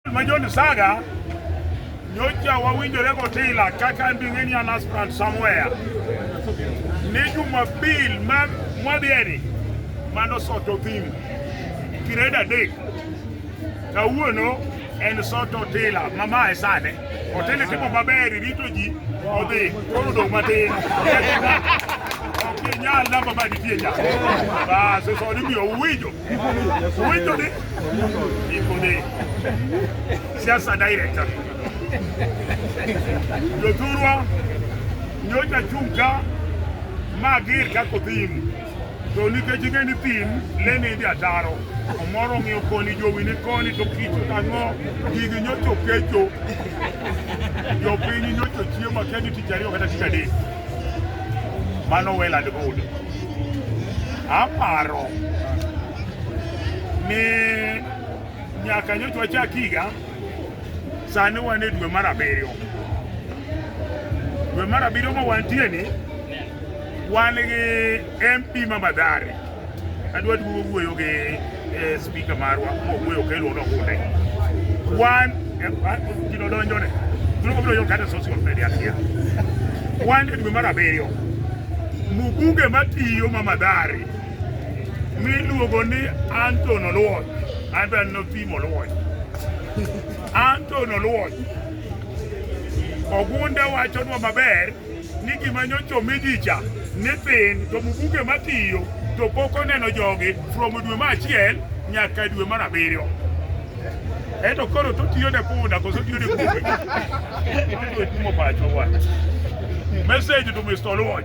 Majon Saga nyocha wawinjore gotila kaka nding'eni an aspirant somewhere ni Jumapil mwadhieni mano soto thim kired adek kawuono en soto otila mamae sane otila timo maber rito ji odhi koro dong' matin ok inyal namba manitie nya bas soni miyo uwinjo Winjo ni iko ni siasa director jothurwa nyocha chung' ka ma gir kako thim to nikech ing'e ni thim lene idhi ataro omoro ng'iyo koni jowi ni koni to kich ang'o gigi nyocho kecho jopiny nyocho chiemo akia ni tich ariyo kata tich adek Mano well and good. Aparo ni nyaka nyocha wachak higa, sani wan e dwe mar abiriyo. Dwe mar abiriyo ma wantie ni wan gi MP ma Mathare Adwa duogo wuoyo gi eh, spika marwa mowuoyo kelo no hunde. Wan kino donjo ne. Tuno biro yo kata social media kia. Wan e dwe mar abiriyo. Mubuge matiyo ma madhari miluogo ni Anton Oluoch. Anton Nopim Oluoch. Anton Oluoch. Ogunda wachonwa maber ni gima nyocha omi ji cha ni thin to Mubuge matiyo to pok oneno jogi from dwe mar achiel nyaka dwe mar abiriyo eto koro totiyo ne punda koso tiyo ne kupe otumo pacho wa message to Mr. Oluoch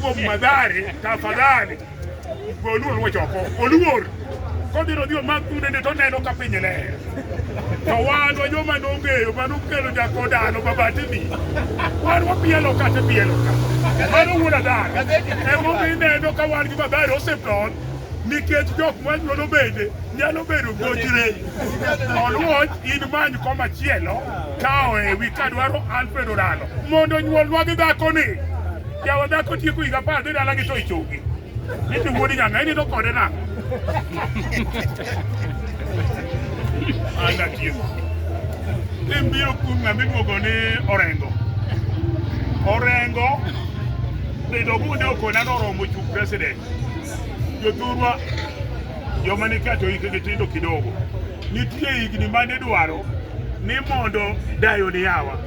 kuom madhari tafadhali goluor wachoko oluor kodhi nodhi omak kunende to neno ka piny ler to wan wa joma nong'eyo mano kelo jako dano mabatini wan wapielo kata pielo ka mano wuod adhar emomi neno ka wan gi madhari osipton nikech jok manyuolo bende nyalo bedo gochre oluoch in many komachielo kawo ewi kadwaro alfred oralo Mondo onyuolnwa gi dhakoni. Jawa dhako tieko higa apar dhi dalagi to ichungi. Niti wuodi nyanga inindo kode na. Anda tieko. Imbiro kuom ng'ama iluongo ni Orengo. Orengo bedo bunde okona noromo chung president. Jothurwa joma ni kato hikgi tindo kidogo. Nitie higni ma nidwaro ni mondo dayo ni yawa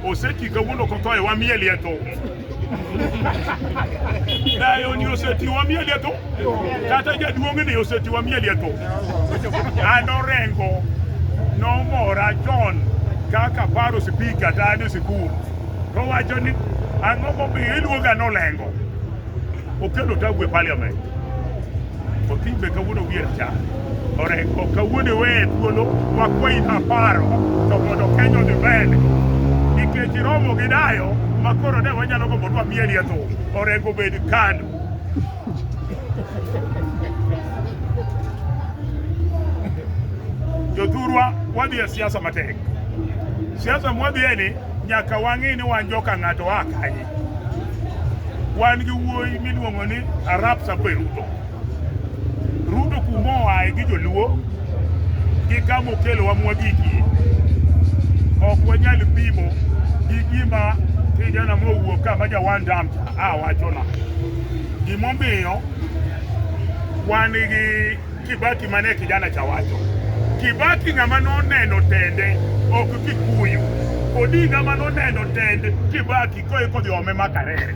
oseti kawuono kothoe wamieli e thum dayo ni oseti wamieli e thum kata jaduong' ni oseti wamieli e thum an orengo nomora chon kaka paro sipika ta an e sikul towacho ni ang'o momiyo iluonga nolengo Okelo tabu e parliament. Otimbe kawuono wier cha. Oreko kawuono we thuolo wakwayi aparo to mondo Kenya odhi mbele. Nikech iromo gi dayo ma koro ne wanyalo gombo dwa mieli e tho. Oreko bed kando. Jothurwa wadhi e siasa matek. Siasa mwadhiye ni nyaka wang'e ni wan joka ng'ato a kanye. wan gi wuoyi miluongo ni Arap Sape Ruto. Ruto kuma oaye gi joluo gi kama okelowa mwagikie, ok wanyal pimo gi gima kijana mowuok ka ma jawan dam cha a wachona. Gimomiyo wan gi Kibaki mane kijana cha wacho. Kibaki ng'ama noneno tende ok Kikuyu. Odinga ma noneno tend Kibaki koe kodhi ome makarere.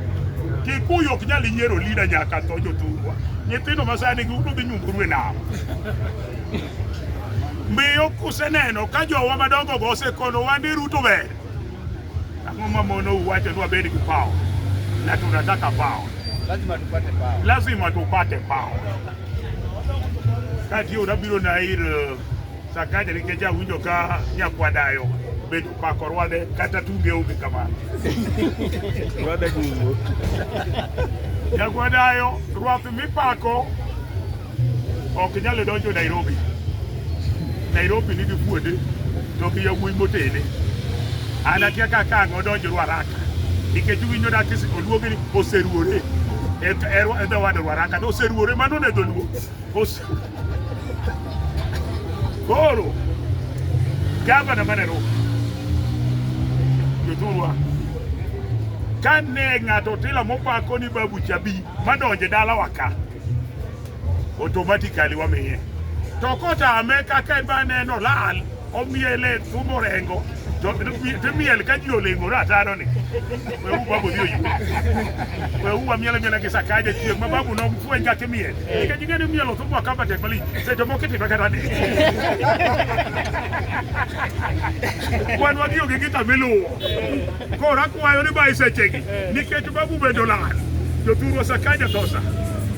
Kikuyu ok nyal yiero lida nyaka tho jothurwa. Nyithindo masani giudo dhi nyunguru e nam. Miyo kuseneno ka jowa madongo go osekono wande Ruto ber. Ang'o ma mono uwacho ni wabed gi pao na tunataka pao. Lazima tupate pao. Lazima tupate pao. Kati yo nabiro na ir eh, Sakaja nikech awinjo ka nyakwadayo bed pako rwade kata tunge onge kamano. Rwade gugo. Nyakwadayo rwath mipako ok nyalo donjo Nairobi. Nairobi nigi kuonde to gi yawuoyi motene. An akia ka ka ang'o donjo Ruaraka nikech winjo dak oluongi ni oseruore e dho wad Ruaraka to oseruore mano ne dholuo. Koro gavana ma Nairobi jothurwa ka ne ng'ato tila mopako ni babu chabi madonje dalawa ka automatically wamiye to kotame kaka en baneno lal omiele thumo rengo timiel ka ji olengore ataro ni wewu babu dhi oyu wewu wamiele miele gi sakaja chieng' ma babu nok fweny kaka imiel nikech ing'e ni mielo thumo akamba tek malich seche moko itime kata ni wan wagi onge gi kamiluwo koro akwayo ni ba e sechegi nikech babu bende olal jothurwa sakaja thosa